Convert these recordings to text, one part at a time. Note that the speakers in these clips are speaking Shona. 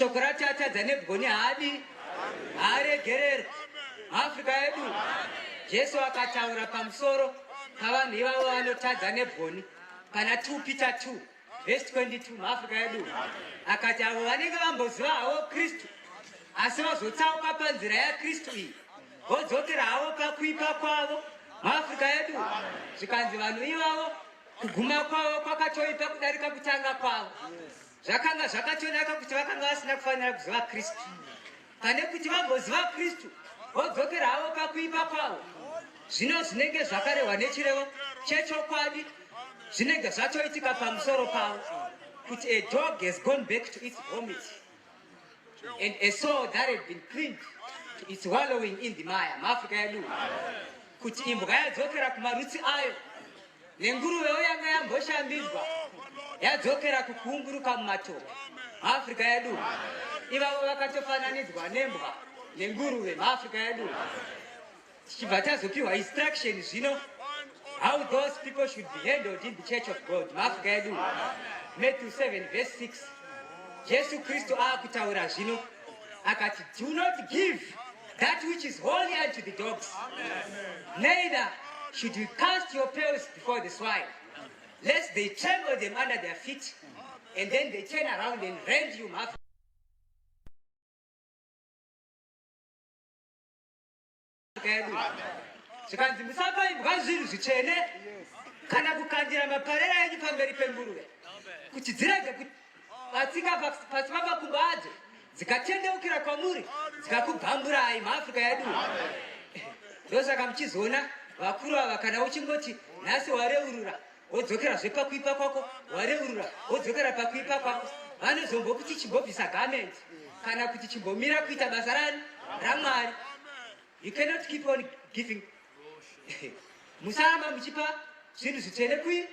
Shoko raChatadza nebwoni haadi haaregerere muAfrica yedu. Jesu akataura pamusoro pavanhu ivavo vanotadza nebwoni pana 2 Peter 2 vhesi 22 muAfrica yedu akati avo vanenge vamboziva havo Kristu asi vazotsauka panzira yaKristu iyi vodzokera havo pakuipa kwavo muAfrica yedu zvikanzi vanhu ivavo kuguma kwavo kwakatoipa kudarika kutanga kwavo Zvakanga zvakatonaka kuti vakanga vasina kufanira kuziva Kristu, pane kuti vamboziva Kristu vodzokera havo pakuipa kwavo. Zvino zvinenge zvakarehwa nechirevo chechokwadi zvinenge zvatoitika pamusoro pavo, kuti a dog has gone back to its vomit. And a soul that had been cleaned, it's wallowing in the mire. Maafrika yedu. Kuti imbwa yadzokera kumarutsi ayo. Nenguruvewo yanga yamboshambidzwa. Yadzokera kukuunguruka mumatope. Maafrika yedu. Ivavo vakatofananidzwa nembwa nenguruve. Maafrika yedu. tichibva tazopiwa instruction zvino how those people should be handled in the church of god maafrika edu matthew 7 verse 6 jesu kristu aakutaura zvino akati do not give that which is holy unto the dogs neither should you cast your pearls before the swine lest they tremble them under their feet and then they turn around and rend you maafrika zvikanzi musapa imbwa zvinhu zvitsvene kana kukandira maparera enyu pamberi penguruve kuti dzirege kubatsika pasi pamakumbo adzo dzikatendeukira kwamuri dzikakubhamburai maafrica yedu ndosaka muchizoona vakuru ava kana uchingoti nhasi wareurura wodzokera zve pakuipa kwako wareurura wodzokera pakuipa kwako vanozombokuti chimbobvisa garment kana kuti chimbomira kuita basa rani ramwari you cannot keep on giving musaramba muchipa zvinhu zvitsvene kui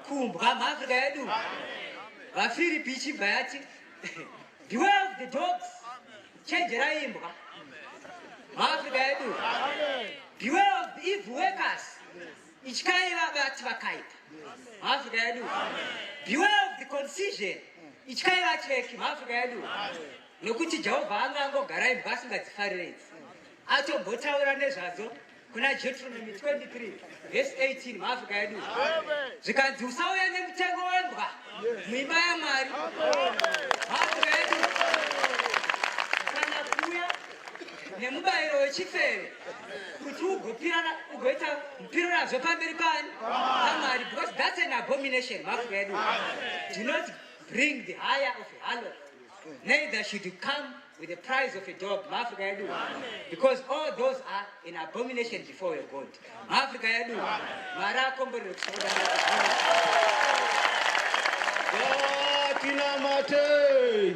kumbwa muafrica yedu vafiripi ichibva yati beware of the dogs chenjera imbwa muafrica yedu beware of the evil workers Ityai vabati vakaipa muAfrica yedu. Beware of the concision. Ityai vacheki muAfrica yedu. Nokuti Jehovha anga angogara imba asingadzifarire idzi. Atombotaura nezvadzo kuna Deuteronomy 23 verse 18 muAfrica yedu. Zvikanzi usauya nemutengo wembwa. Muimba yaMwari. nemubayiro wechifeve kuti ugopirana ugoita mupirirazve pamberi pani pamwari because that's an abomination mafuka edu do not bring the higher of hallow neither should you come with the price of a dog maafrica yedu because all those are an abomination before your god maafrica yedu mwari akomborero kusaodatinamate